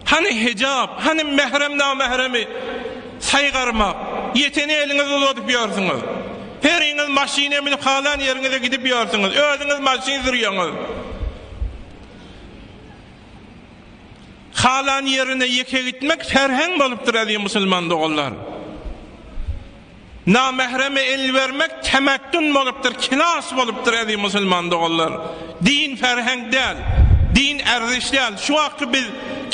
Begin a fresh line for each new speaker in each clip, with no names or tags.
Hany hijap, hany mährem namähremi saýgarmak? Ýeteni eliňizi uzadyp ýörsüňiz. Heriňiz maşyna münüp halan ýeriňize gidip ýörsüňiz. Özüňiz maşyn sürýäňiz. Halan ýerine ýeke gitmek serheň bolupdyr eziz musulman doganlar. Namähreme el bermek temettün bolupdyr, kinas bolupdyr eziz musulman doganlar. Din ferheňk däl, din erziş däl. Şu wagtky biz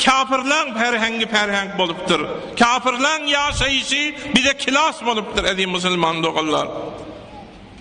kafirlaň ferheňgi ferheňk bolupdyr. Kafirlaň ýaşaýyşy bize kinas bolupdyr eziz musulman doganlar.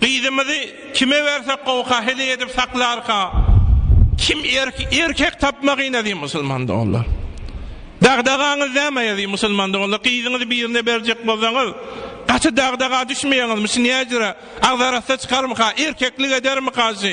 Gyzymyzy kime bersek gowka heleý edip saklarka kim erkek tapmagyn eziz musulman doganlar dagdagaňyz näme eziz musulman doganlar gyzyňyzy birine berjek bolsaňyz gaty dagdaga düşmeýäňizmi şu näjire agzarassa çykarmyka erkeklik edermika şu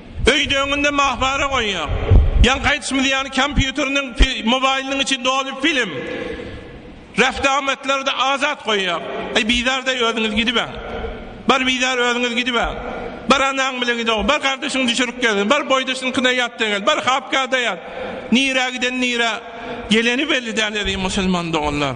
Öýde öňünde mahbara goýýar. Ýaňky aýdyşymyz ýaly kompýuteriniň, mobaýlynyň içi doly film. Refde amatlary-da azat goýýar. Aý bizardaý özüňiz gidibäň. Bar bizar özüňiz gidibäň. Bar anaň bilen gidog. Bar gardaşyňy düşürip gel. Bar boýdaşynyňkyna ýat-da gel. Bar hapkada ýat. Nirä giden nirä geleni belli däl eziz musulman doganlar.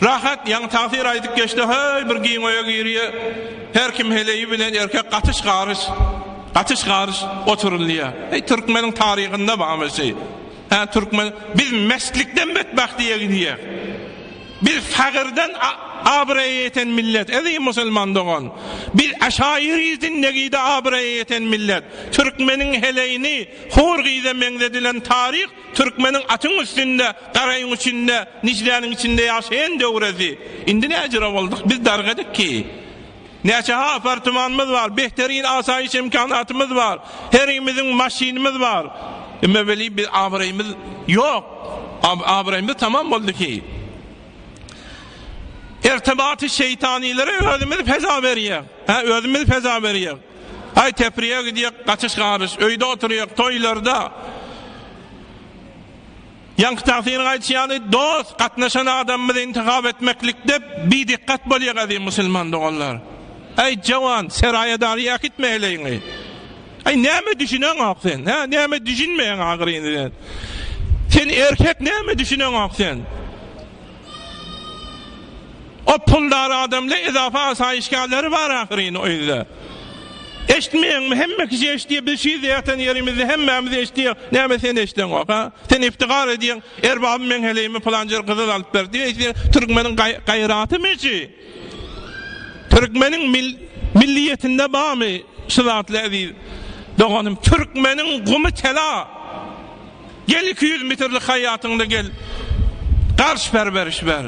Rahat ýaňy tagsyr aýdyp geçdi heý bir giň öýe girýä her kim heleýi bilen erkek gatyş garyş gatyş garyş oturylýa heý türkmeniň taryhynda bamy şeý hä türkmen biz mestlikden betbahtyýa gidýäs biz fagyrdan abraýa ýeten millet eziz musulman dogan biz aşaýyry zindegide abraýa ýeten millet türkmeniň heleýini hur gyza meňzedilen taryh Türkmeniň atyň üstünde, garaýyň içinde, Nijläniň içinde ýaşaýan döwresi. Indi näjüre boldyk, biz dargadyk ki. Näçe apartmanymyz bar, behterin asaýyş imkanatymyz bar, herimiziň maşynymyz bar. Emma weli biz abraýymyz ýok. Abraýymyz tamam boldy ki. Ertebaty şeýtanilere özümiz feza berýäs. Hä, özümiz feza berýäs. Aý Tepriýe gidýek gaçyş garyş öýde oturýak toýlarda Ýaňky tagsyryň aýdyşy ýaly dost gatnaşan adamymyzy intihap etmeklikde bidikgat bolýak Aziz musulman doganlar Aý jawan Seraýa dary äkitme heleýiňi Aý näme düşüneňok sen hä näme düşünmeýäň ahyryny sen Sen erkek näme düşüneňok sen. O puldar adamly edafa asaýyşgärleri bar ahyryn o ýerde. Eşitmeýäňmi hemme kişi eşitýär biz şu ýerde ýatan ýerimizde hemmämiz eşitýär näme sen eşideňok ha sen iftigar edýäň erbabym meň heleýimi pylanjer gyzyl alyp berdi eýse türkmeniň gaýratymy şu. Türkmeniň milliýetinde bamy şu zatly eziz doganym türkmeniň gumy tela gel iki ýüz mitrlik haýatyňda gel garş ber beriş ber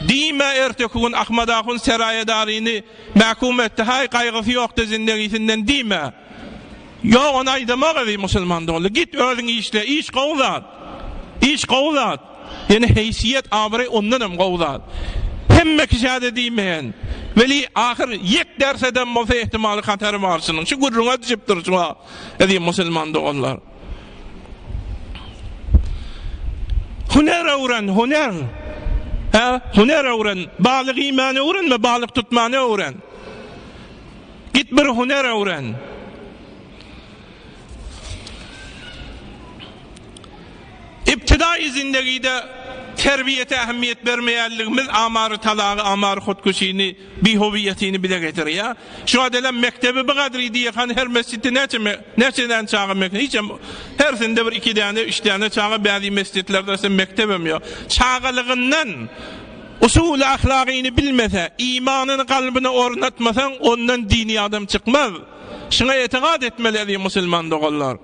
diýme erteki gün Ahmad ahun seraýedaryny mäkum etdi haý gaýgysy ýokdy zindegisinden diýme ýok ony aýdamak eziz musulman doly git özüň işle iş gowy zat iş gowy zat. Ýöne heýsiýet, abraý ondanam gowy zat. Hemme kişä-de diýmeýän. Weli, ahyr ýek dersedem bolsa ähtimaly hatary bar şunuň. Şu gürrüňe düşüp durşuň-a, eziz musulman doganlar. Hüner öwren, hüner! Hä, hüner öwren! Balyk iýmäni öwrenme, balyk tutmany öwren. Git bir hüner öwren! Ibtidaýy zindegide terbiýete ähmiýet bermeýänligimiz amary talagy, amary hotkeşini, bihowiýetini bize getirýär. Şuňa delem mekdebi bi gadry diýehan her mesjitde näçe näçe däne çaga mekdep hiçem hersinde bir iki däne üç däne çaga bäzi mesjitlerde sen mekdebem ýok. Çagalygyndan usuly ahlagyny bilmese, imanyny kalbyna ornatmasaň ondan dini adam çykmaz. Şuňa etigat etmeli eziz musulman doganlar.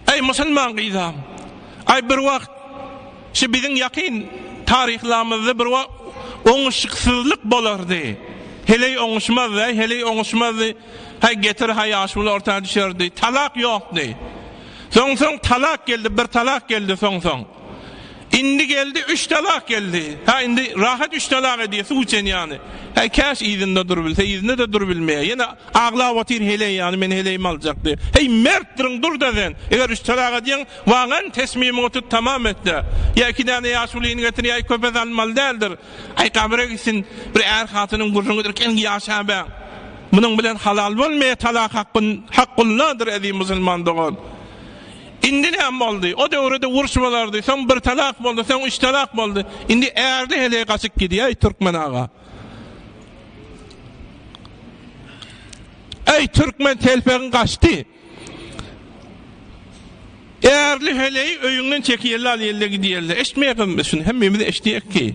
Aý musulman gyzam. Aý bir wagt şu biziň ýakyn taryhlamyzda bir wagt oňuşyksyzlyk bolardy. Heleý oňuşmazdy, aý heleý oňuşmazdy. Haý getir haý ýaşuly orta düşerdi. Talak ýokdy. Soň soň talak geldi, bir talak geldi soň soň. Indi geldi üç talak geldi. Hä indi rahat üç talak edýär suw içen ýany. Hä käş yzynda durubilse yzynda-da durubilmeýär. Ýene aglap otyr heleý ýany men heleýimi aljak diýip. Heý mertdirin durda sen. Eger üç talak edýäň wagan tesmimiňi tut tamam etde. Ýa iki däne ýaşulyny getir ýa köpe salynmaly däldir. Aý gabyra gitsin bir är hatynyň gürrüňi dirken ýaşabaň. Munuň bilen halal bolmaýar talak hakyn hakgulnadyr eziz musulman dogan. Indi näme boldy? O döwrede urş bolardy, soň bir talak boldy, soň üç talak boldy. Indi ärli heleý gaçyp gidýäý Türkmen aga. Äý Türkmen telpegiň gaçdy. Ärli heleý öýüňden çekiýelli alýelli gidýelli. Eşitmeýäkmi biz şuny? Hemmemiz eşidýäkki.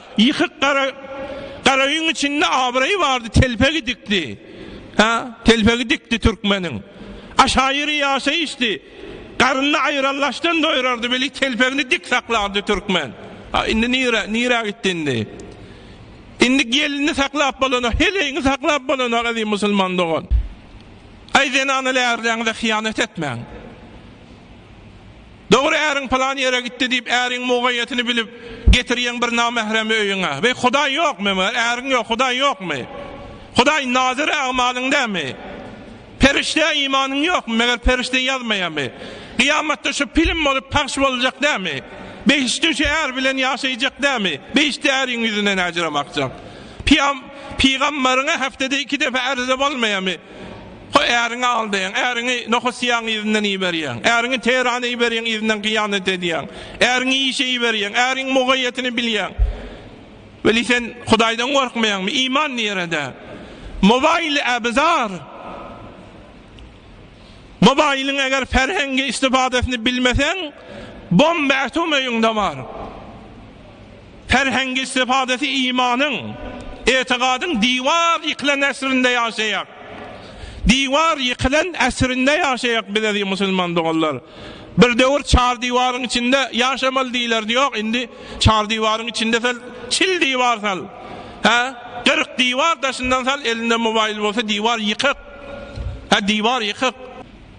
Ýykyk gara garaýyň içinde abraýy bardy, telpegi dikdi. Hä, telpegi dikdi türkmeniň. Aşaýyry ýaşaýyşdy. Garynda aýrallaçdan doýrardy, weli telpegini dik saklardy türkmen. A indi nire, nirä gitdi indi? Indi gelini saklap bolanok, heleýiňi saklap bolanok, eziz musulman dogan. Aý zenanal ärleňize hyýanat etmäň. Dogry äriň pylan ýere gitdi diýip äriň mugaýýetini bilip getirýeň bir namähremi öýüňe. Weý Hudaý ýokmy meger äriň ýok Hudaý ýokmy? Hudaý nazir ägmalyň dämi? Perişdä imanyň ýokmy meger perişde ýazmaýamy? Gyýamatda şu pilim bolup pahş boljak dämi? Behiştde şu är bilen ýaşaýjak dämi? Behiştde äriň ýüzünden äjir amakjak. Pyýam pygamberiňe heftede iki depe ärzle bolmaýamy? Ho, äriňi aldaýaň, äriňi Nohosiýaň yzyndan iberýäň, äriňi Terana iberýäň, yzyndan hyýanat edýäň, äriňi işe iberýäň, äriň mugaýýatyny bilýäň. Weli sen Hudaýdan gorkmaýaňmy? Iman nirede? Mobaýyly äbizar! Mobaýylyň eger ferhengi istifadasyny bilmeseň, bomba ätum öýüňde bar. Ferhengi istifadesi imanyň, etigadyň diwar ýykylan äsrinde ýaşaýak. Diwar ýykylan äsrinde ýaşaýak biz eziz musulman doganlar. Bir döwür çar diwaryň içinde ýaşamaly diýilerdi ýok indi çar diwaryň içinde sal çil diwar sal hä kyrk diwar daşyndan sal elinde mobaýyl bolsa diwar ýykyk hä diwar ýykyk.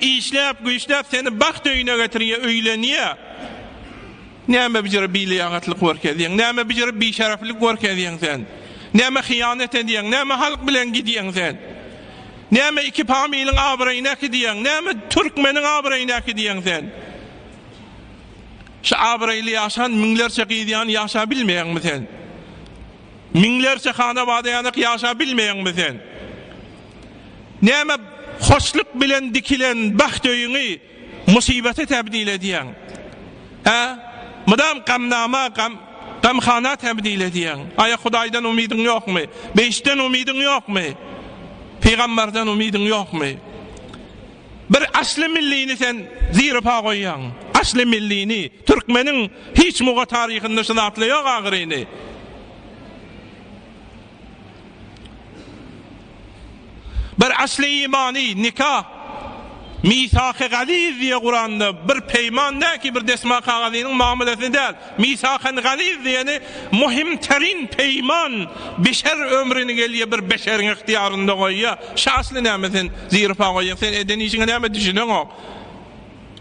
Işläp güýçläp seni bagt öýüne getirýär öýlenýär. Näme bijir biliýagatlyk görkezýäň, näme bijir bişereflik görkezýäň sen. Näme hyýanat edýäň, näme halk bilen gidýäň sen. Näme iki pamiliň abraýyny äkidýäň, näme türkmeniň abraýyny äkidýäň sen. Şu abraýly ýaşan müňlerçe gyz ýany ýaşap bilmeýäňmi sen. Müňlerçe hana bada ýanak ýaşap bilmeýäňmi sen. Näme hoşluk bilen dikilen bagt öýüňi musybata tebdil edýäň? Hä? Mydam gamnama, gam, gamhana tebdil edýäň. Aýa Hudaýdan umydyň ýokmy? Behiştden umydyň ýokmy? Pygambardan umydyň ýokmy? Bir asly millini sen ziripa goýýaň. Asly millini. Türkmeniň hiç muga taryhynda şu zatla ýok ahyryny. Bir asly imany nika Misaky galiz diýe Kuranda bir peýman näki bir desma kagazynyň mamylasyny däl Misakan galiz diýeni muhim terin peýman beşer ömrüni gelýe bir beşeriň ihtiýarynda goýýa şa asly näme sen zirpa goýýaň sen eden işiňe näme düşüneňok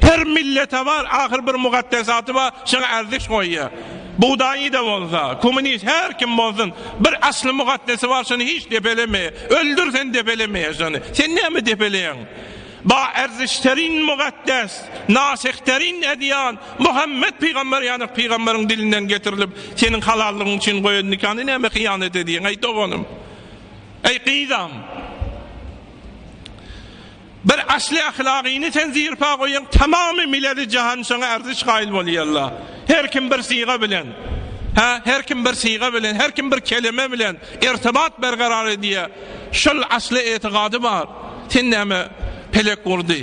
Her millete bar ahyr bir mugaddesaty bar şoňa ärziş goýýar. Bugdaýyda bolsa, kommunist her kim bolsun bir asly mugaddesi bar şony hiç depelemeýär. Öldür sen depelemeýär şony. Sen näme depeleýäň? Ba ärzişterin mugaddes, nasihderin edýan Muhammet pygamber ýanak pygamberyň dilinden getirilip seniň halallygyň üçin goýan nikany näme hyýanat edýäň eý doganym. Eý gyzam. Bir asly ahlagyny sen zirpa goýaň tamamy miledi jahan şoňa arziş gaýyl bolýalla her kim bir syga bilen ha her kim bir syga bilen her kim bir keleme bilen irtibat bergarar edýä şol asly etigady bar sen näme pelek gurdy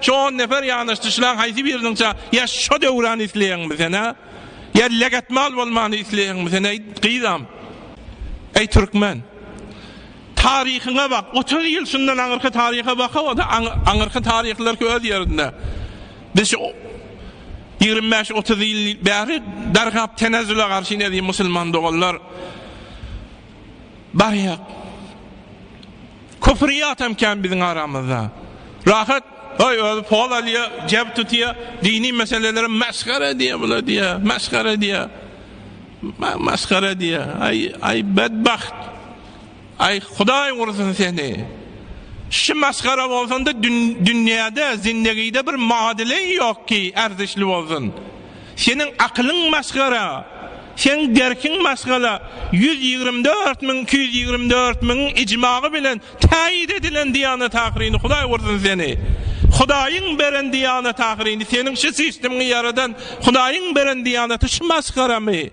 Şo on nefer ýanaşdyşlaň haýsy biriniňçä ýa şo Döwrany isleýäňmi sen-ä? Ýa Legatmal bolmany isleýäňmi sen eý, gyzam? Eý, türkmen! Taryhyňa bak! Otuz ýyl şundan aňyrky taryha bakaw-da, aňyrky taryhlarky öz ýerinde. Biz şu ýigrimi bäş, otuz ýyl bäri dargap tenezzüle garşy ne diýip musulman doganlar. Barýak. Köpri ýatam kän biziň aramyzda. Rahat, öý özi poz alýa, jeb tutýa, dini meselelere mesgara edýä bula diýä, mesgara edýä. Mesgara edýä. Aý, aý bedbagt. Aý Hudaý ursun seni. Şi mesgara bolsanda dünýäde, zindegide bir madyly ýok ki, ärdişli bolsun. Seniň akylyň masgara, seň derkiň masgala, ýüz ýigrimi dört müň iki ýüz ýigrimi dört müň ijmagy bilen täýýit edilen Diýanat ahyryny Hudaý ursun seni! Hudaýyň beren Diýanat ahyryny seniň şu sistimiňi ýaradan Hudaýyň beren Diýanaty şu masgaramy?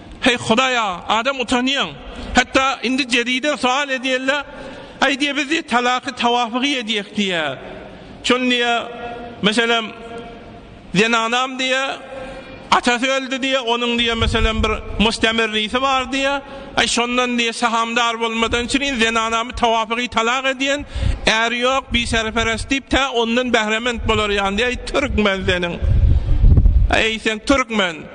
Heý Hudaýa, adam utanýaň. Hatda indi Jeriden soal edýärler, Aý diýýär, biz diýýär, talaky tawafygy edýäk diýýär. Şony diýýär, meselem, zenanam diýýär, atasy öldi diýýär, onuň diýýär, meselem, bir mustamirrisi bar diýýär. Aý şondan diýýär, sahamdar bolmadan çyn zenanamy tawafygy talak edýän, äri ýok, biserperes diýip, tä ondan bährement bolar ýaly diýýär. Aý türkmen seniň. Aý sen türkmen.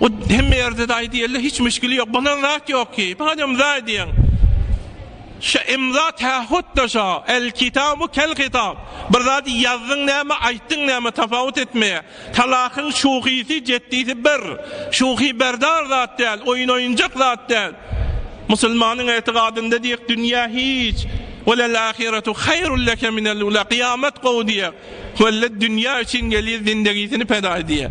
O hemme yerde daýy diýeli hiç müşkili ýok. Bolan zat ýok ki. Madem daýy diýen. Şa imza tähut da şa. El kitabu kel kitab. Bir zat ýazdyň näme, aýtdyň näme tapawut etmeýär. Talakyň şuhisi, jeddisi bir. Şuhi berdar zat däl, oýun oýunjak zat däl. Musulmanyň etikadynda diýek dünýä hiç. Welel ahiretu haýrul leke minel ula. Kyýamat gowy diýýär. Welle dünýä üçin gelýär zindegisini peda edýär.